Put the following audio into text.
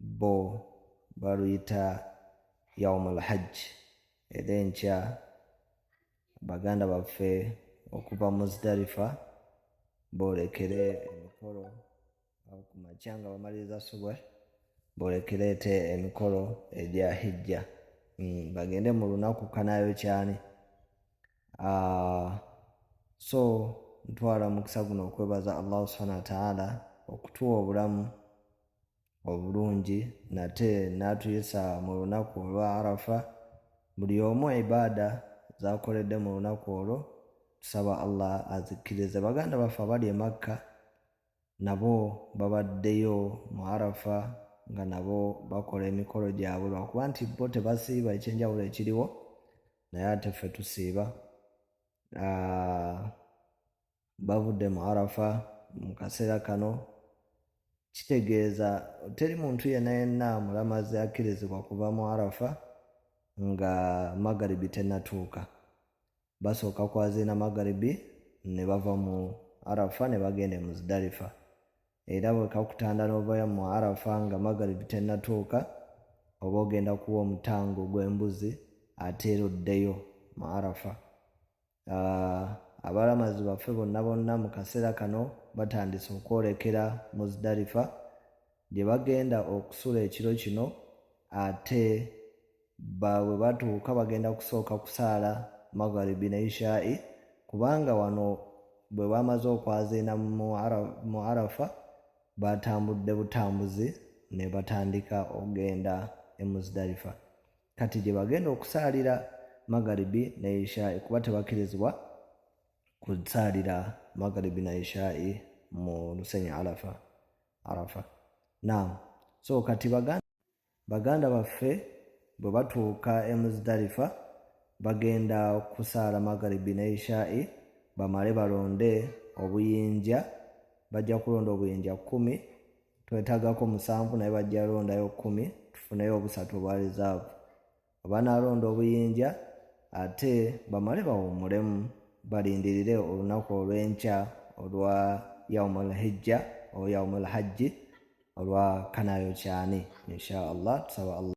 bo baluyita yaumul hajji era enkya baganda baffe okuva muzdalifa boolekere emikolo ku makya nga bamaliriza subwe boolekereete emikolo egya hijja mm, bagende mu lunaku kanayo kyani ah, so ntwala omukisa guno okwebaza allahu subhana wataala okutuwa obulamu obulungi nate n'atuyisa mu lunaku olwa arafa buli omu ibaada zakoledde mu lunaku olwo tusaba allah azikkirize baganda baffe abali emakka nabo babaddeyo mu arafa nga nabo bakola emikolo gyabwe lwakuba nti bo tebasiiba ekyenjawulo ekiriwo naye ate ffe tusiiba ah, bavudde mu arafa mu kaseera kano kitegeeza teri muntu yenna yenna mulamazi akkirizibwa kuva mu arafa nga magaribi tenatuuka basooka kwaziina magaribi ne bava mu arafa ne bagenda e muzidalifa era bwekakutanda n'ovayo mu arafa nga magaribi tenatuuka oba ogenda kuwa omutango gw'embuzi ate era oddeyo mu arafa abalamazi baffe bonna bonna mu kaseera kano batandise okwolekera muzdalifa gye bagenda okusula ekiro kino ate bwe batuuka bagenda kusooka kusaala magharibi ne ishai kubanga wano bwe bamaze okwaziina mu arafa batambudde butambuzi ne batandika okugenda e muzdalifa kati gye bagenda okusaalira magaribi ne ishai kuba tebakkirizibwa kusaalira magaribi na ishai mu lusenyi arafa arafa naamu so kati baganda baganda baffe bwe batuuka e muzidalifa bagenda kusaala magaribi ne ishai bamale balonde obuyinja bajja kulonda obuyinja kkumi twetagako musanvu naye bajja londayo kumi tufuneyo obusatu obwa reserve abanalonda obuyinja ate bamale bawumulemu balindirire olunaku olwenkya olwa yaumul hijja o yaumul hajji olwa kanayo kyani insha allah tusaba allah